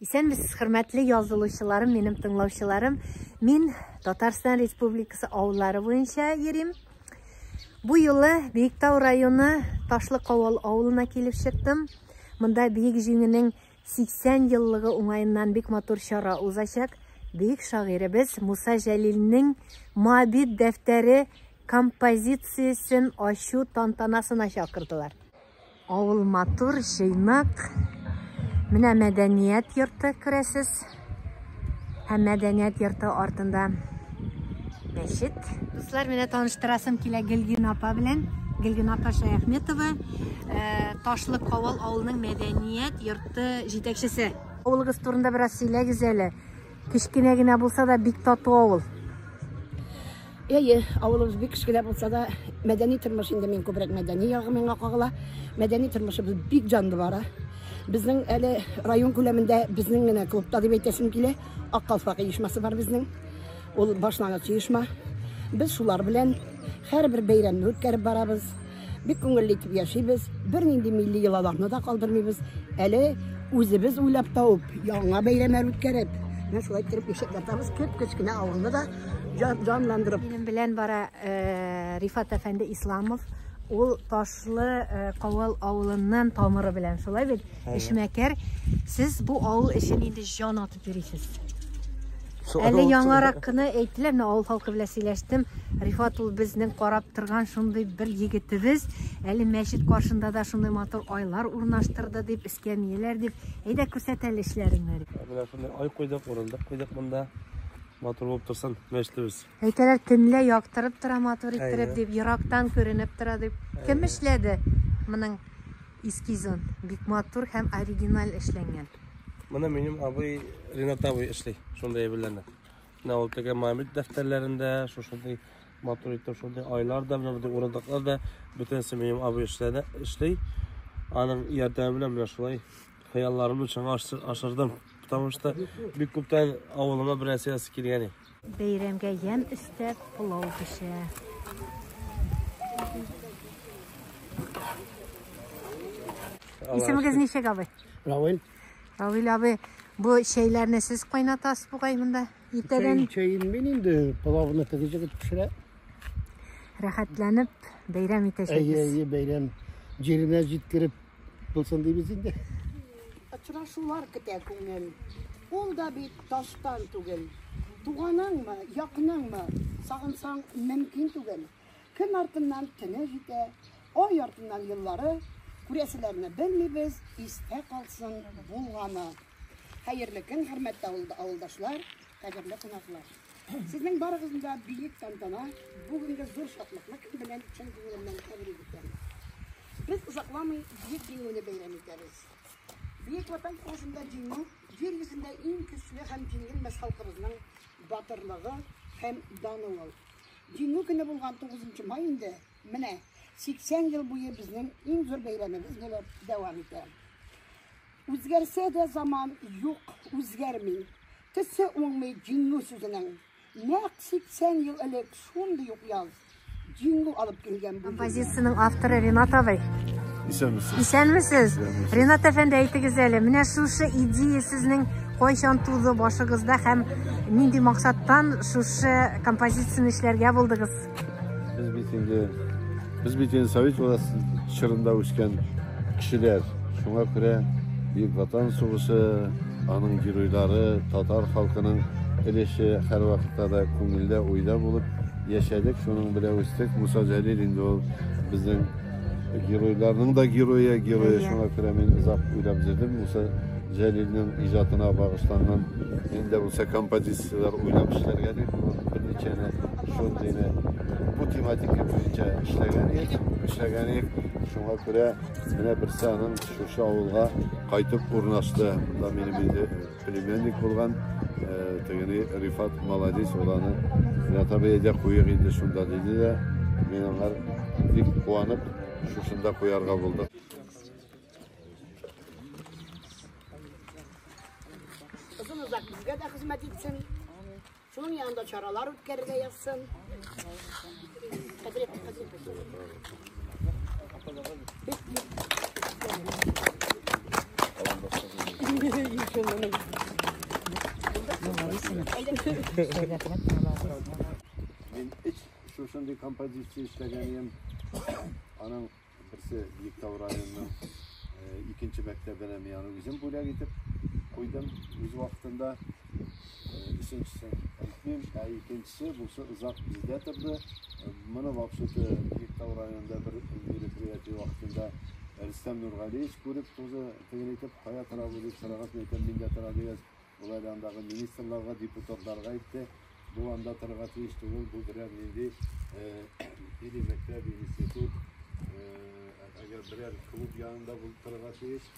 Исәнмесез, хөрмәтле язылучыларым, минем тыңлаучыларым. Мин Татарстан Республикасы авыллары буенча йөрим. Бу юлы Биектау районы Ташлы Кавал авылына килеп чыктым. Монда Биек Җиңенең 80 еллыгы уңаеннан бик матур чара узачак. Биек шагыйребез Муса Җәлилнең Мабит дәфтәре композициясен ачу тантанасына чакырдылар. Авыл матур, җый нык. Менә мәдәният йорты күрәсез. Һәм мәдәният йорты артында мәчет. Дуслар, менә таныштырасым килә Гөлгин апа белән. Гөлгин апа Шаяхметова, э, Ташлы Кавал авылының мәдәният йорты җитәкчесе. Авылыгыз турында бераз сөйләгез әле. Кечкенә генә булса да бик тату авыл. Әйе, авылыбыз бик кечкенә булса да, мәдәни тормыш инде мин күбрәк мәдәни ягы миңа кагыла. Мәдәни тормышыбыз бик җанлы бара. Безнең әле район күләмендә безнең генә клубта дип әйтәсем килә. Ак калфак оешмасы бар безнең. Ул башлангыч оешма. Без шулар белән һәрбер бәйрәмне үткәреп барабыз. Бик күңелле итеп яшибез, бернинди милли йолаларны да калдырмыйбыз. Әле үзебез уйлап тауып, яңа бәйрәмнәр үткәреп, менә шулай итеп яшәп ятабыз. Кеп-кечкенә авылны да җанландырып. Минем белән бара э, Рифат әфәнде Исламов. Ул Ташлы э, Кавал авылыннан тамыры белән, шулай бит? Эшмәкәр. Сез бу авыл өчен инде җан Йөрисез. Әле яңарак кына әйттеләр, менә авыл халкы белән сөйләштем. Рифат ул безнең карап торган шундый бер егетебез. Әле мәчет каршында да шундый матур айлар урнаштырды дип, эскәмияләр дип. Әйдә күрсәт әле эшләреңне. Менә шундый ай куйдык, урындык куйдык монда. Матур булып торсын мәчетебез. Әйтәләр, төнлә яктырып тора матур иттереп дип, ерактан күренеп тора дип. Кем эшләде? Моның Эскизын. Бик матур һәм оригиналь эшләнгән. Моны минем абый Ренат абый эшли, шундый әйберләрне. Менә ул теге мамит дәфтәрләрендә, шушындый матур итеп, шундый айлар да, менә бу урындыклар да бөтенесе минем абый эшләде, эшли. Аның ярдәме белән менә шулай хыялларымны чынга ашырдым. Потому что бик күптән авылыма берәрсе ясы килгән иде. Бәйрәмгә ямь өстәп, пылау пешә. Исемегез ничек абый? Равил. Равил абый, бу чәйләрне сез кайнатасыз бугай монда? Иртәдән чәен мин инде пылавны теге җигеп пешерә. Рәхәтләнеп бәйрәм итәчәкбез. Әйе, әйе, бәйрәм. Җиренә җиткереп Булсын дибез инде. Очрашулар көтә күңел. Ул да бит таштан түгел. Туганыңмы, якыныңмы, сагынсаң мөмкин түгел. Көн артыннан төне җитә, ай артыннан еллары, күрәселәрне белмибез, истә калсын булганы. Хәерле көн, хөрмәтле авылдашлар, кадерле кунаклар. Сезнең барыгызны да бөек тантана, бүгенге зур шатлыкны кем белән чын күңелемнән тәбрик итәм. Без озакламый бөек җиңүне бәйрәм итәбез. Бөек Ватан сугышында җиңү җир йөзендә иң көчле һәм җиңелмәс халкыбызның батырлыгы һәм даны ул. Җиңү көне булган 9 май инде менә 80 ел буе безнең иң зур бәйрәмебез булып дәвам итә. Үзгәрсә дә заман, юк, үзгәрми. Төсе уңмый җиңү сүзенең. Нәкъ 80 ел элек шундый ук яз. Җиңү алып килгән бу. Композицияның авторы Ренат абый. Исәнмесез. Исәнмесез. Ренат әфәнде, әйтегез әле, менә шушы идея сезнең кайчан туды башыгызда һәм нинди максаттан шушы композицияне эшләргә булдыгыз? Без бит инде без бит инде совет чорында үскән кешеләр. Шуңа күрә Бөек Ватан сугышы, аның геройлары, татар халкының өлеше һәрвакытта да күңелдә, уйда булып яшәдек, шуның белән үстек. Муса Җәлил инде ул безнең геройларның да герое, герое. Шуңа күрә мин озак уйлап йөрдем. Муса Җәлилнең иҗатына багышланган инде булса композицияләр уйлап эшләргә дип, берничәне Шундый да бу тематика буенча эшләгән ек, эшләгән ек. Шуңа күрә менә берсе аның шушы авылга кайтып урнашты. Монда минем инде племянник булган э, тегене Рифат молодец ул аны Натабиядә куйык инде шунда диде дә мин аңа бик куанып шушында куярга булдык. Озын озак безгә дә хезмәт итсен. Шуның янында чаралар үткәрергә язсын. Мин эч шушындый композиция эшләгән идем. Аның Берсе Биектау районының икенче мәктәбенә мин аны үзем бүләк итеп куйдым үз вакытында. Өченчесе әйтмим, ә икенчесе бусы озак бездә торды. Моны вообще-то Биектау районында бер мероприятие вакытында Рөстәм Нургалиевич күреп, тоже тегенәйтеп, кая тора бу дип сораган, әйтәм, миндә тора дигән. Болар андагы министрларга, депутатларга әйтте, бу анда торырга тиеш түгел, бу берәр нинди или э, мәктәп, институт, әгәр э, берәр клуб янында булып торырга тиеш,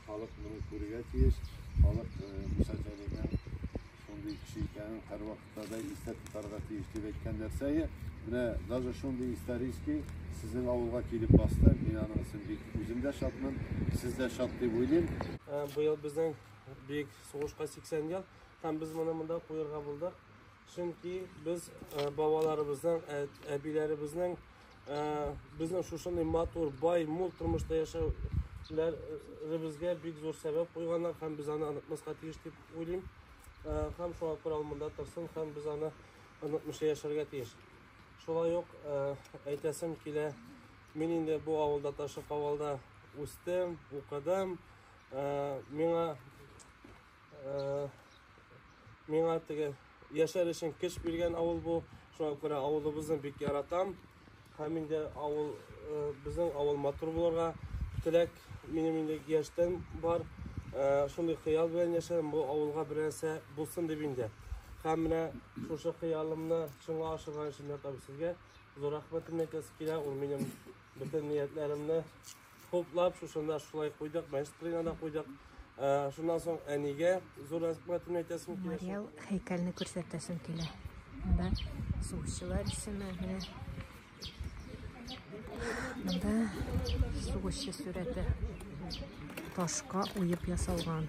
халык моны күрергә тиеш, халык э, Муса Җәлилнең шундый кеше икәнен һәрвакытта да истә тотарга тиеш дип әйткән нәрсәгә менә даже шундый исторический сезнең авылга килеп басты мин аның өчен бик үзем дә шатмын сез дә шат дип уйлыйм быел безнең Бөек сугышка 80 ел һәм без моны монда куярга булдык. Чөнки без э, бабаларыбызның, э, әбиләребезнең э, безнең шушындый матур, бай, мул тормышта яшәүләребезгә бик зур сәбәп куйганнар һәм без аны онытмаска тиеш дип уйлыйм. Һәм шуңа күрә ул монда торсын һәм без аны онытмыйча яшәргә тиеш. Шулай ук әйтәсем килә, мин инде бу авылда, Ташып авылда үстем, укыдым. ә, миңа ә, миңа теге яшәр өчен көч биргән авыл бу шуңа күрә авылыбызны бик яратам һәм инде авыл ә, безнең авыл матур булырга теләк минем инде яшьтән бар ә, шундый хыял белән яшәдем бу авылга бер нәрсә булсын дип инде һәм менә шушы хыялымны чынга ашырган өчен сезгә зур рәхмәтемне әйтәсе килә ул минем бөтен ниятләремне Хуплап, шушында шулай куйдык, мәштрина да куйдык. Шуннан соң әнигә зур рәхмәтемне әйтәсем килә. Мариал һәйкәлне күрсәтәсем килә. Монда сугышчылар исеме менә. Монда сугышчы сүрәте. Ташка уеп ясалган.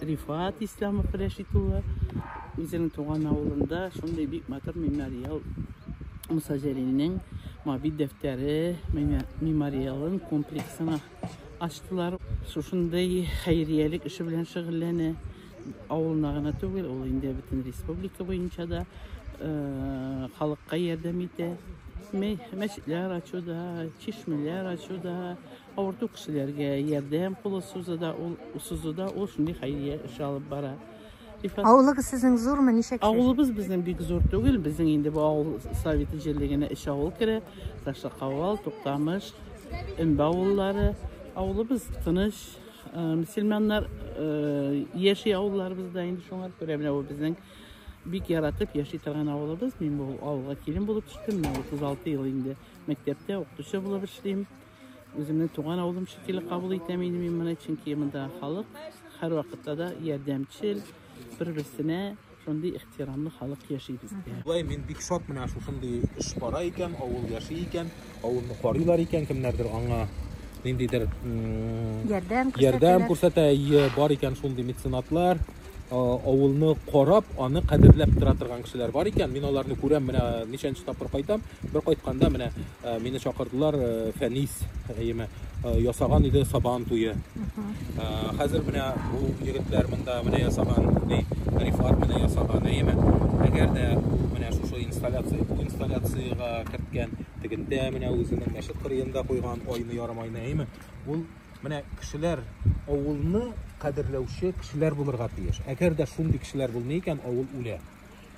Рифат Исламов Рәшит улы үзенең туган авылында шундый бик матур мемориал Муса Җәлилнең мобиль дәфтәре мемориалын комплексына ачтылар. Шушындый хәйриялек эше белән шөгыльләнә. Авылына гына түгел, ул инде бөтен республика буенча да э, халыкка ярдәм итә. Мәчетләр ачуда, чишмәләр ачуда, Авырту кешеләргә ярдәм кулы сузуда ул сузуда ул шундый хәйрия эш алып бара. Авылыгыз сезнең зурмы, ничә кеше? Авылыбыз безнең бик зур түгел. Безнең инде бу авыл советы җирлегенә өч авыл керә. Ташлыкавал, Туктамыш, Өмбә авыллары. Авылыбыз тыныч, э, мөселманнар э, яши авылларыбызда инде шуңа күрә менә бу безнең бик яратып яши торган авылыбыз. Мин бу авылга килен булып төштем. Менә 36 ел инде мәктәптә укытучы булып эшлим. Үземне туган авылым шикелле кабул итәм инде мин моны, чөнки монда халык һәрвакытта да ярдәмчел, бер-берсенә шундый ихтирамлы халык яши бездә. Болай мин бик шат менә шушындый эш бара икән, авыл яши икән, авылны карыйлар икән, кемнәрдер аңа ниндидер ярдәм күрсәтә, бар икән шундый меценатлар. авылны карап, аны кадерләп тора торган кешеләр бар икән. Мин аларны күрәм, менә ничәнче тапкыр кайтам. Бер кайтканда менә мине чакырдылар, Фәнис, әйеме, ясаган иде сабан туе. Хәзер менә бу егетләр монда менә ясаган, ди, Рифат менә ясаган, әйеме. Әгәр дә ул менә шушы инсталляция, бу инсталляциягә керткән, тегендә менә үзенең мәчет кырыенда куйган айны ярым айны, әйеме. Ул Менә кешеләр авылны кадерләүче кешеләр булырга тиеш. Әгәр дә шундый кешеләр булмый икән, авыл үлә.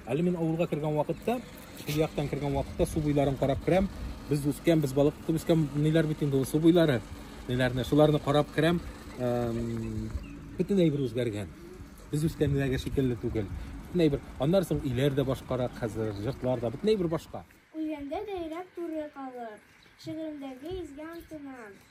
Әле мин авылга кергән вакытта, шул яктан кергән вакытта су буйларын карап керәм. Без үскән, без балык тотып үскән, ниләр бит инде ул су буйлары. Ниләрне, шуларны карап керәм. Бөтенләй бер үзгәргән. Без үскәндәге шикелле түгел. Бөтенләй бер. Аннан соң иләр дә башкарак хәзер, җыртлар да бөтенләй бер башка. Үлгәндә дә йөрәк туры калыр. Шигыремдәге изге антына.